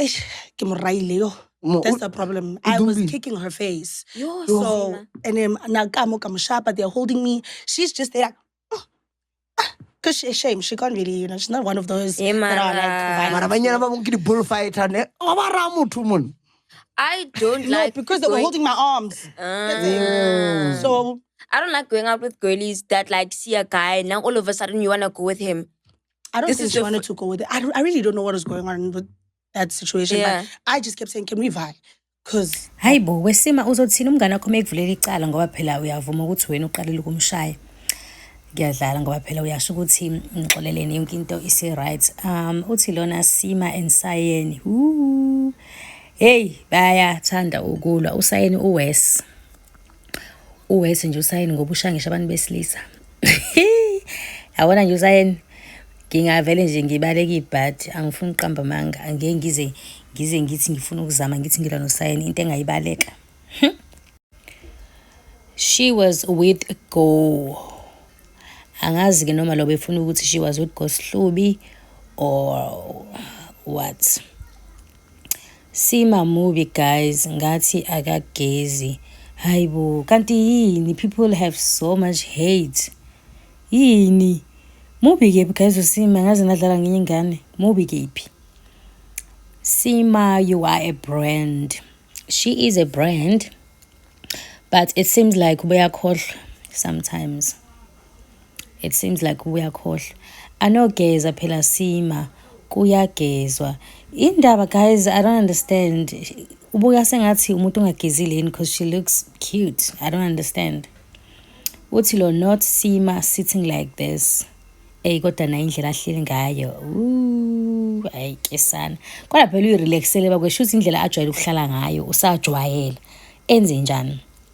Eish, ke mo raile yo Mo- that's the problem i was Dumbile. kicking her face Yo, so Sena. and then na ka mo ka mo shapa they're holding me she's just there because she shame she can't really you know she's not one of those Eh, that are like mara. violent. mara banyana ba bong ke di-bull fighter ne ga ba raya motho mone I don't no like because they were going- holding my arms Ah. so I don't like going out with girlies that like see a guy and now all of a sudden you wanna go with him. I don't This think is she the wanted to go with it. I, don't, I really don't know what was going on with that situation. Yeah. But I just kept saying, can we vibe? Because hayi bo wesima uzothini umngane wakho uma ekuvulela icala ngoba phela uyavuma ukuthi wena uqalile ukumshaya ngiyadlala ngoba phela uyasho ukuthi ngixoleleni yonke into isi-right um uthi lona sima ensayeni heyi bayathanda ukulwa usayeni uwes uwesi nje usayini ngoba ushangisha abantu besilisa yabona nje usayini ngingavele nje ngibaleke ibhadi angifuni uqamba amanga angeke ngize ngize ngithi ngifuna ukuzama ngithi ngilwa nosayini into engayibaleka hm? she was with go angazi-ke noma lo befuna ukuthi she was with go sihlubi or what Sima mubi guys ngathi akagezi. Hayibo kanti yini people have so much hate. Yini? Mubi kephi guys uSima ngaze nadlala ngenye ingane. Mubi kephi? Sima you are a brand. She is a brand. But it seems like ubeyakhohlwa sometimes. it seems like uyakhohlwa anogeza phela sima kuyagezwa indaba guys i don't understand ubuka sengathi umuntu ongagezile yini because she looks cute i don't understand uthi lo not sima sitting like this eyi kodwa nayo indlela ahleli ngayo ayi ke sana kodwa phela uyirelaxele bakwesho ukuthi indlela ajwayele ukuhlala ngayo usajwayela enze njani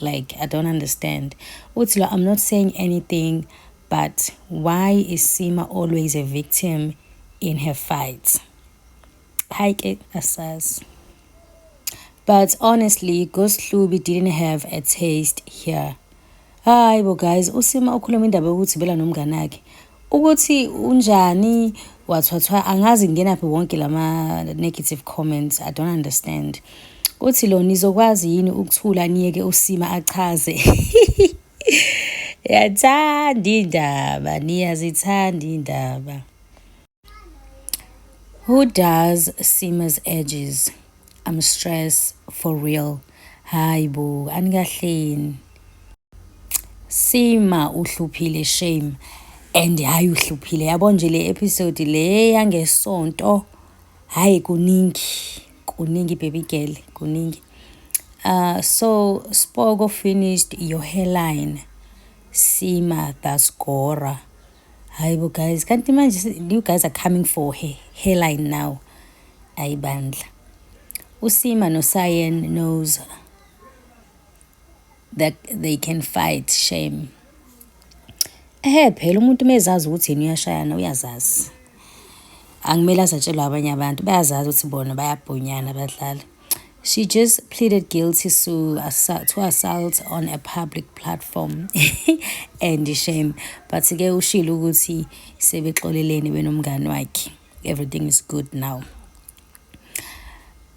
like i don't understand uthi lo i'm not saying anything but why is sima always a victim in her fights hayi ke asazi but honestly ghost hlubi didn't have a taste here hayi bo guys usima ukhuluma indaba yokuthi bela nomngane akhe Ukuthi unjani wathwathwa angazi ngenaphi wonke lama negative comments i don't understand uthi lo nizokwazi yini ukuthula niyeke usima achaze yathanda indaba niyazithanda indaba who does sima's edges I'm stress for real. Hayi bo, anikahleni. Sima uhluphile shame and hayi uhluphile yabo nje le episode le yangesonto hayi kuningi kuningi baby girl kuningi uh, so spoko finished your hairline sima dasgora hayi bo guys kanti manje you guys are coming for her hairline now ayi bandla usima nosayen knows that they can fight shame ehe phela umuntu mezazi ukuthi yini uyashayana uyazazi angimele azatshelwa abanye abantu bayazazi ukuthi bona bayabhonyana abadlali She just pleaded guilty to, to assault on a public platform and shame but ke ushilo ukuthi sebexoleleni benomngani wakhe everything is good now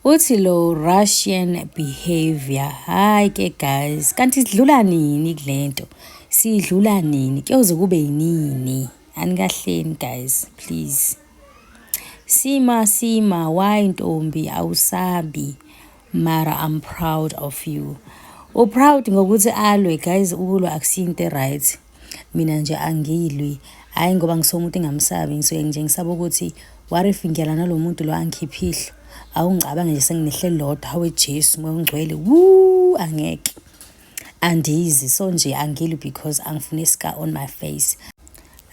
uthi lo russian behavior hayi ke guys kanti sidlula nini kule nto sidlula nini kuyoze kube yinini anikahleni guys please Sima sima why ntombi awusabi mara I'm proud of you. U proud ngokuthi alwe guys ukulwa akusiyo into right. Mina nje angilwi hayi ngoba ngisuke umuntu engamsabi ngisuke nje ngisaba ukuthi what if ngiyala nalomuntu lo angikhiphe ihlo. Awungicabange nje senginehle lodwa hawe Jesu moya ongcwele wuu angeke. andizi so nje angili because angifune scar on my face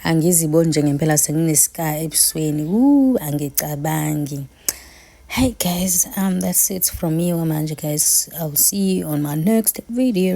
angiziboni nje ngempela senginescar ebusweni u angicabangi Hey guys, um, that's it from me, Manje guys. I'll see you on my next video.